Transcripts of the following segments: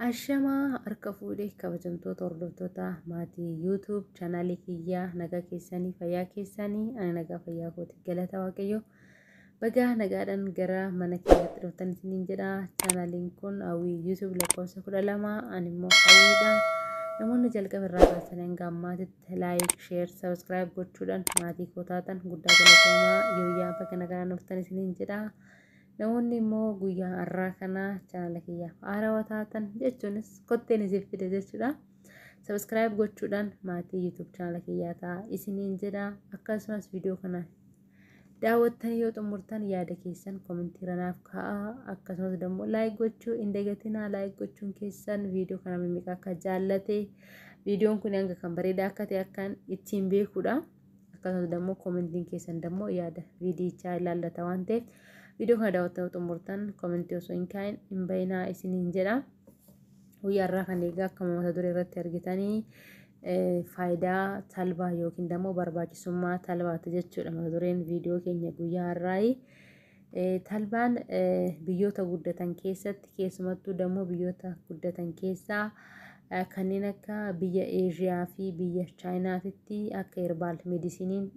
Ashamaa harka fuudhee kabajamtoota hordoftoota maatii YouTube chaanaalii kiyyaa nagaa keessanii fayyaa keessanii ani nagaa fayyaa kooti galata waaqayyoo Bagaa nagaadhaan gara mana keenyatti dhuftan isiniin jedha. Chaanaaliin kun hawwii YouTube lakkoofsa kudha lama ani immoo hawwiidha. Namoonni jalqaba irraa kaasanii hanga ammaatitti laayik, sheer, sabiskiraayib gochuudhaan maatii koo taatan guddaa galatoomaa yooyyaa baga nagaan dhuftan isiniin jedha. Namoonni immoo guyyaa har'aa kana chaanala kiyyaaf haarawa taatan jechuunis kotteen isiif fide jechuudha. Sabiskiraayib gochuudhaan maatii YouTube chaanala kiyyaa ta'a isiniin jedha. Akkasumas viidiyoo kana Daawwattanii yoo xumurtan yaada keessan komentiirra naaf kaa'aa akkasumas immoo laayik gochuu hin dagatinaa laayik gochuun keessan viidiyoo kana mimmiqa akka jaallate viidiyoon kun hanga kan bareedaa akka ta'e akkan ittiin beekudha akkasumas immoo komentiin keessan immoo yaada viidiyichaa ilaallata waan ta'eef viidiyoo kana daawwattanii xumurtan komentii osoo hin kaa'in hin bayinaa isiniin jedha. Guyyaa irraa kan eegaa akkuma mata duree irratti argitanii faayidaa talbaa yookiin immoo barbaachisummaa talbaati jechuudha mata dureen viidiyoo keenya guyyaa irraayi. Talbaan biyyoota guddatan keessatti keessumattuu dammoo biyyoota guddatan keessaa kanneen akka biyya Eeshiyaa fi biyya Chaayinaatitti akka herbaal medisiniin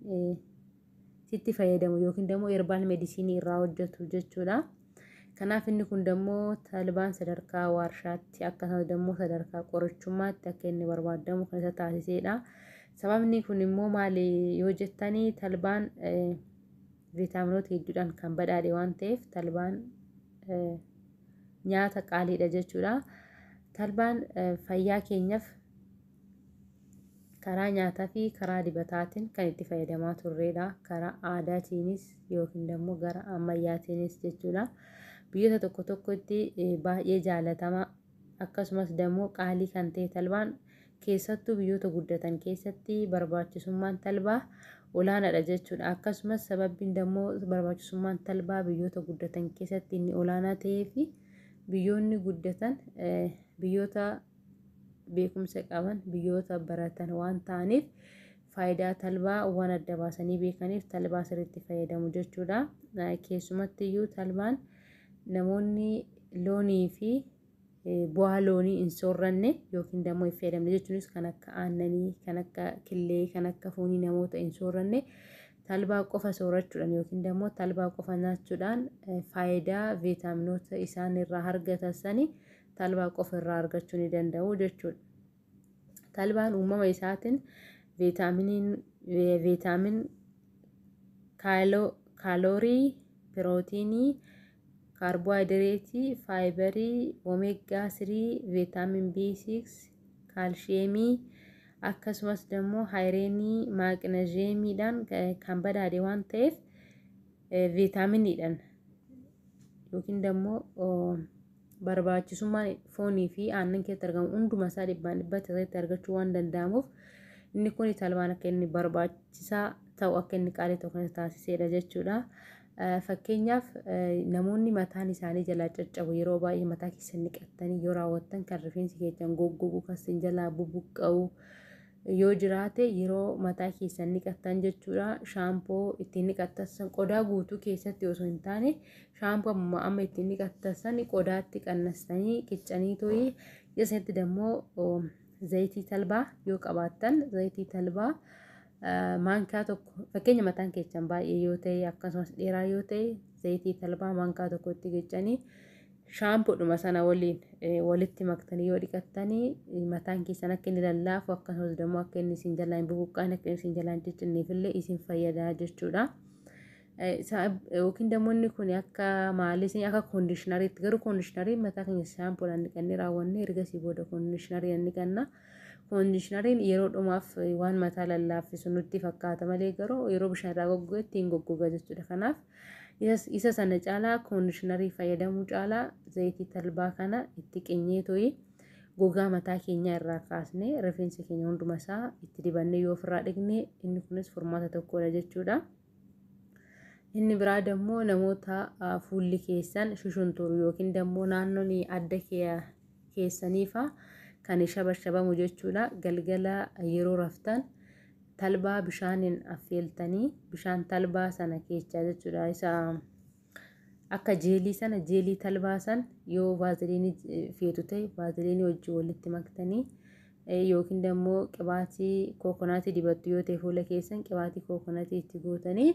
sitti fayyadamu yookiin dammoo erbaal medisiinii irraa hojjetu jechuudha. Kanaaf inni kun dammoo talbaan sadarkaa waarshaatti akkasumas dammoo sadarkaa qorichummaatti akka inni barbaadamu kan isa taasiseedha. Sababni kun immoo maali yoo jettanii talbaan viitaaminoota hedduudhaan kan badhaadhe waan ta'eef talbaan nyaata qaaliidha jechuudha. Talbaan fayyaa keenyaaf Karaa nyaataa fi karaa dibataatiin kan itti fayyadamaa turreedha. Karaa aadaatiinis yookiin immoo gara ammayyaatiinis jechuudha. Biyyoota tokko tokkotti baay'ee jaalatama akkasumas immoo qaalii kan ta'e talbaan keessattuu biyyoota guddatan keessatti barbaachisummaan talbaa olaanaadha jechuudha. Akkasumas sababiin immoo barbaachisummaan talbaa biyyoota guddatan keessatti inni olaanaa ta'ee fi biyyoonni guddatan biyyoota beekumsa qaban biyyoota baratan waan ta'aniif faayidaa talbaa waan adda baasanii beekaniif talbaa sirriitti fayyadamu jechuudha. Keessumatti iyyuu talbaan namoonni loonii fi bu'aa loonii hin soorranne yookiin dammoo hin fayyadamne jechuunis kan akka aannanii, kan akka killee, kan akka foonii namoota hin soorranne talbaa qofa soorachuudhaan yookiin dammoo talbaa qofa nyaachuudhaan faayidaa viitaaminoota isaan irraa argatan sani talbaa qofa irraa argachuu ni danda'u jechuudha. Talbaan uumama isaatiin veetaamin kaaloorii, pirootiinii, kaarboohayidireetii, faayibarii, omeegaa 3, veetaamin B6, kaalshiyeemii akkasumas immoo haayireenii, maaqinaziyeemiidhaan kan badhaadhe waan ta'eef veetaaminiidhaan yookiin dammoo barbaachisummaan foonii fi aannan keessatti argamu hunduma isaa dhibbaan dhibbatti keessatti argachuu waan danda'amuuf inni kun talbaan akka inni barbaachisaa ta'u akka inni qaalii ta'u kan taasisedha jechuudha. Fakkeenyaaf namoonni mataan isaanii jalaa caccabu yeroo baay'ee mataa keessan dhiqattanii yoo raawwattan kan rifeensi keessan goggoguu kan sin jalaa bubuqqa'u yoo jiraate yeroo mataa keessan niqattan jechuudha shaampoo ittiin niqattassan qodaa guutuu keessatti osoo hin taane shaampoo amma amma ittiin niqattassan qodaatti qannastanii qiccanii to'ii keessatti dammoo zayitii talbaa yoo qabaattan zayitii talbaa maankaa tokko fakkeenya mataan keessan baay'ee yoo ta'e akkasumas dheeraa yoo ta'e zayitii talbaa maankaa tokkotti qiccanii shaampoodhuma sana waliin walitti maktanii yoo dhiqattanii mataan keessan akka inni lallaafu akkasumas immoo akka inni isin jalaa hin bubuqqaan akka inni isin jalaa hin ciccinneef illee isin fayyada jechuudha. Yookiin immoo inni kun akka maalis akka koondishinariitti garuu koondishinariin mataa keenya shaampoodhaan dhiqannee raawwannee ergasii booda koondishinariin dhiqanna. Koondishinariin yeroo dhumaaf waan mataa lallaaffisu nutti fakkaata malee garuu yeroo bishaan irraa goggogetti hin goggoga jechuudha. Kanaaf Isa sana caalaa koondishinarii fayyadamuu caalaa zayitii talbaa kana itti qinyee toyi gogaa mataa keenyaa irraa kaasnee rifeensa keenya hunduma isaa itti dibannee yoo ofirraa dhiqne inni kunis furmaata tokkodha jechuudha. Inni biraa dammoo namoota fuulli keessan shushunturu yookiin dammoo naannoon adda keessaniifa kan shabashabamu jechuudha. Galgala yeroo raftan talbaa bishaanin affeeltanii bishaan talbaa sana keechaa jechuudha isa akka jeelii sana jeelii talbaa san yoo vaaziliinii feetu ta'e vaaziliinii wajjin walitti maktanii yookiin immoo qibaatii kookonaatii dibattu yoo ta'e fuula keessan qibaatii kookonaatii itti gootanii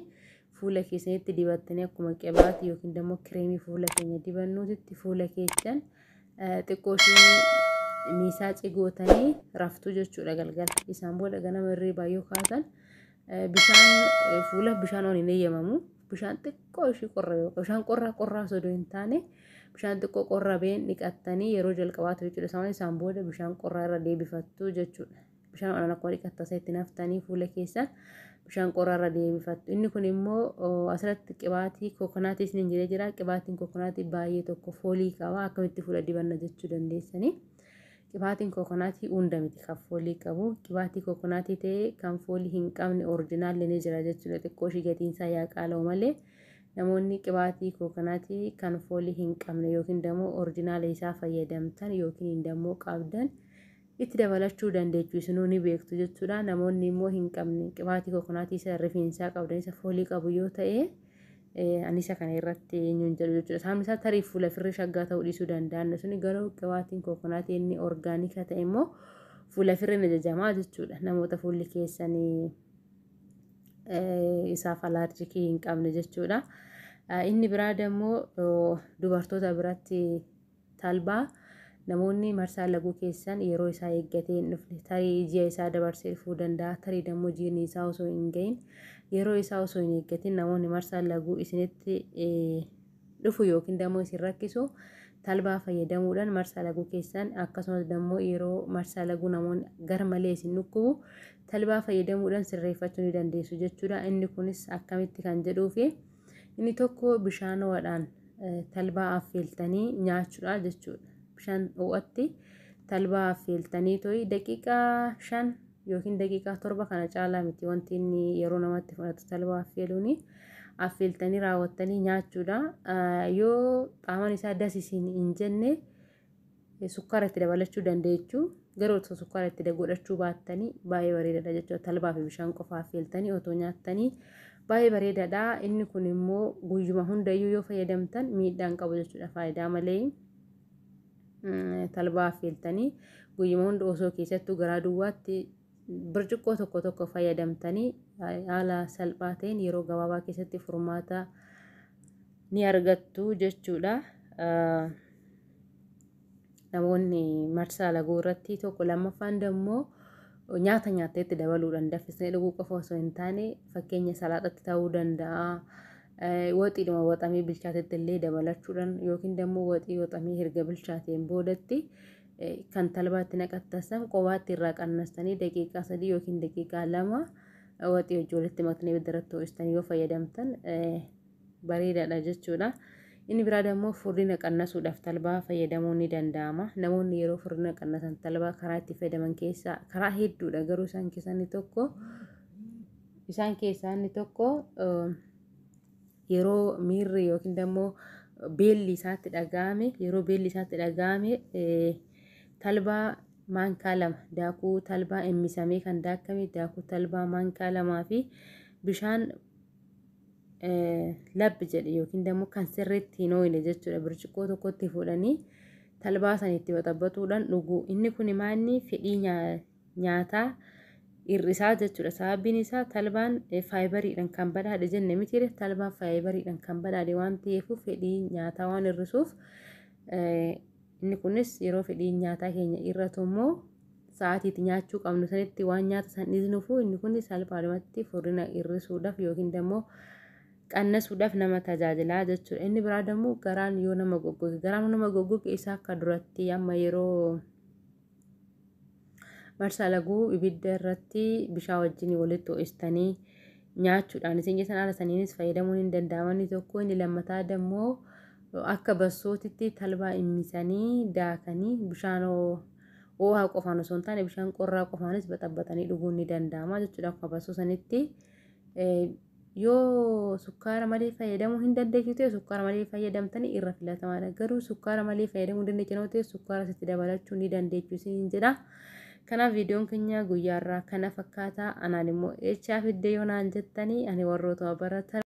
fuula keessanitti dibattanii akkuma qibaatii yookiin immoo kireemii fuula keenya dibannuutitti fuula keessan xiqqoo ishee miisaa cigootanii raftu jechuudha galgala. Isaan booda ganama hirriibaa yoo kaatan bishaan fuula bishaan ol hin eeyyamamu. Bishaan xiqqoo ishee qorra bishaan qorraa qorraa osoo hin taane bishaan xiqqoo qorra been dhiqattanii yeroo jalqabaatu jechuudha. Isaan booda bishaan qorraa irra deebifattu jechuudha. bishaan onaan akka dhiqattu tasa itti naftanii fuula keessan bishaan qorarra deebifattu. Inni kun immoo asirratti qibaatii kokonaatii isiniin jedhee jira. Qibaatiin kokonaatii baay'ee tokko foolii qaba. Akkamitti fuula dibanna jechuu dandeessanii. Qibaatiin kokonaatii hunda miti kan foolii qabu. Qibaatii kokonaatii ta'ee kan foolii hin qabne orijinaalli ni jira jechuudha. Xiqqoo ishii gatiin isaa yaa qaala'u malee namoonni qibaatii kokonaatii kan foolii hin qabne yookiin immoo orijinaala isaa fayyadamtan yookiin immoo qabdan itti dabalachuu dandeechu isinuu ni beektu jechuudha. Namoonni immoo hin qabne qibaatii kokonaatii isa rifeensaa qabdan isa foolii qabu yoo ta'e anisa kana irratti eenyuun jedhu jechuudha. Saamni isaa tarii fuula firri shaggaa ta'uu dhiisuu danda'an suni garuu qibaatiin kokonaatii inni orgaanika ta'e immoo fuula firri ni jajamaa jechuudha. Namoota fuulli keessanii isaaf alaarjikii hin qabne jechuudha. Inni biraa immoo dubartoota biratti Talbaa, Namoonni marsaa laguu keessan yeroo isaa eeggatee hin dhufne. Tarii ji'a isaa dabarsee dhufuu danda'a, tarii dammoo jiini isaa osoo hin gahin, yeroo isaa osoo hin eeggatin namoonni marsaa laguu isinitti dhufu yookiin dammoo isin rakkisu talbaa fayyadamuudhaan marsaa laguu keessan akkasumas dammoo yeroo marsaa laguu namoonni garmalee isin dhukkubu talbaa fayyadamuudhaan sirreeffachuu ni dandeessu jechuudha. Inni kunis akkamitti kan jedhuufi. Inni tokko bishaan ho'aadhaan talbaa affeeltanii nyaachuudha jechuudha. Bishaan ho'atti talbaa affeeltanii to'ii daqiiqaa shan yookiin daqiiqaa torba kana caalaa miti wanti inni yeroo namatti fudhatu talbaa affeeluuni. Affeeltanii raawwattanii nyaachuudha. Yoo qaamaan isaa das isin hin jenne Sukkaara itti dabalachuu dandeechu. Garuu osoo sukkaara itti godhachuu baattanii baay'ee bareedaadha jechuudha. Talbaa fi bishaan qofaa affeeltanii otoo nyaattanii baay'ee bareedaadha. Inni kun immoo guyyuma hundayyuu yoo fayyadamtan miidhaan qabu jechuudha faayidaa malee. Talbaa affeeltanii guyyuma hunda osoo keessattuu garaa duwwaatti birciqqoo tokko tokko fayyadamtanii haala salphaa ta'een yeroo gabaabaa keessatti furmaata ni argattu jechuudha. namoonni marsaa laguu irratti tokko lammaffaan dammoo nyaata nyaatteetti dabaluudhaan daffisnee dhuguu qofa osoo hin taane fakkeenya salaaxatti ta'uu danda'a. Waxiidhuma waxamee bilchaatetti illee dabalachuudhaan yookiin dammoo waxii waxamee erga bilchaateen boodatti kan talbaatti naqattasan qobaatti irraa qannastanii daqiiqaa sadii yookiin daqiiqaa lama waxii hojii walitti maknee bidiratti ho'istanii yoo fayyadamtan bareedaadha jechuudha. Inni biraa dammoo furdina qannasuudhaaf talbaa fayyadamuun ni danda'ama. Namoonni yeroo furdina qannasan talbaa karaa itti fayyadaman keessaa karaa hedduudha garuu isaan keessaa inni tokko isaan keessaa inni tokko yeroo miirri yookiin dammoo beelli isaatti dhaga'ame yeroo beelli isaatti dhaga'ame talbaa maankaa lama daakuu talbaa emmisamee kan daakame daakuu talbaa maankaa lamaa fi bishaan labbi jedhe yookiin dammoo kan sirriitti hin ooyine jechuudha birciqoo tokkotti fuudhanii talbaa san itti waxabbatuudhaan dhuguu inni kun maanni fedhii nyaataa hir'isaa jechuudha sababiin isaa talbaan faayibariidhaan kan badhaadhe jenne mitiire talbaan faayibariidhaan kan badhaadhe waan ta'eef fedhii nyaataa waan hir'isuuf inni kunis yeroo fedhii nyaataa keenya irratu immoo sa'aatiitti nyaachuu qabnu sanitti waan nyaata san dhiisnuufuu inni kun salphaadhumatti furdina hir'isuudhaaf yookiin immoo qannasuudhaaf nama tajaajilaa jechuudha. Inni biraa immoo garaan yoo nama goggoge garaan nama goggoge isaa akka duratti amma yeroo marsaa laguu ibidda irratti bishaa wajjin walitti ho'istanii nyaachuudhaan isin keessan haala saniinis fayyadamuun hin danda'amanii tokko inni lammataa immoo akka bassootitti talbaa immisanii daakanii bishaan Oo'aa qofaan osoo hin taane bishaan qorraa qofaanis baxabbatanii dhuguun ni danda'ama jechuudha akkuma barsuu sanitti. Yoo sukkaara malee fayyadamuu hin dandeessu ta'e sukkaara malee fayyadamtanii irra filatamaadha. Garuu sukkaara malee fayyadamuu hin dandeessu yoo ta'e sukkaara sitti dabalachuu ni dandeessu isin jedha. Kanaaf viidiyoon keenya guyyaarraa kana fakkaata. Anaan immoo eechaa fiddee yoo naan jettanii ani warrootuma baratan.